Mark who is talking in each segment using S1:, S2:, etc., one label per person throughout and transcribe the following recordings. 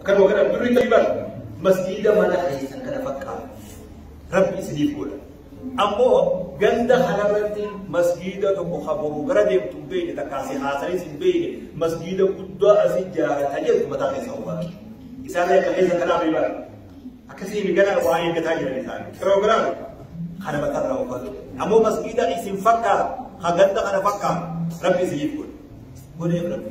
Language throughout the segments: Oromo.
S1: Kan hoogganan birri ta'ii bara masjiida mana keessan kana fakkaatu rabbi isiniif godha. Ammoo ganda kanarratti masjiida tokko kaburuu gara deemtu hin beekne takkaa si haasa'is hin beekne masjiida guddaa asi ijaarata jedhu mataa keessa hooggaatu. Isaan akka keessa kanaa fi bara akkasii migana waa eeggataa jiran isaan. Kiloogiraam kana mataa irraa hooggaatu. Ammoo masjiida isin fakkaatu kan ganda kana fakkaatu rabbi isiniif godha. Godhee rabbi.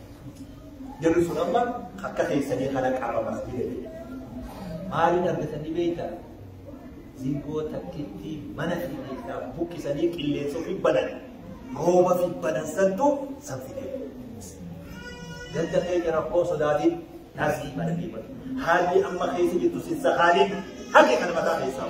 S1: Jarri sun amma akka keessanii kana qabamas bira jedhe. Maaliin argatanii beektaa? Zingoo takkittii mana fi keessaa buqqisanii qilleensa ofii banan. Rooba fi banan santu san fidee. Ganda keenya rakkoo sodaatiin taasii mana fi mana. Haalli amma keessa jirtu sin sakaaleen harki kana mataa keessaa.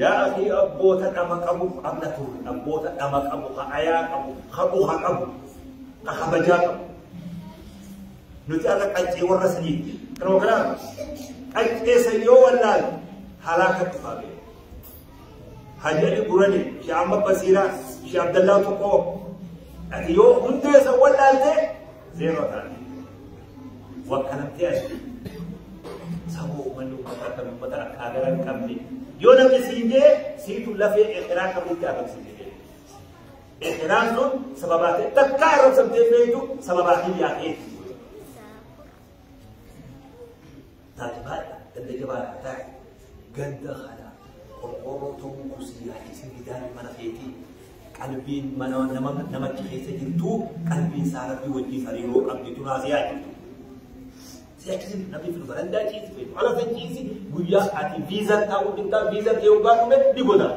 S1: Yaa akhii abboota dhama qabu qabna turre abboota dhama qabu ha ayaa qabu ha buha qabu ha kabajaa qabu nuti akka qaccee warra saniitti program qaccee san yoo wallaal halaaka dhufaa bee hajjali gurani shi amma basiira shi abdallaa tokkoo ati yoo hundee san wallaalte zeeroo taate Wakkalamtee as saboo uummanni uummataa kan uummata akka hagara hin qabne yoo namni siin jee siitu lafee ekeraa akka bulti agarsiise jee. Ekeraan sun sababaa ta'e takka arrabsamtee beektu sababaa kiyyaa ta'eeti. Taajbaadha ganda jabaadha taa'e ganda kana qorqoorroo tokko kusii yaadisii gidaarri mana keetii qalbiin mana nama namachi keessa jirtu qalbiin isaa rabbii wajjin hariiroo qabdi turaa si yaadiftu. Si akkasiin namni fudhu barandaa ciisi fedhu ala san ciisi guyyaa ati viizar taa'uu dhibdaa viizar ta'uu baadhume ni godaana.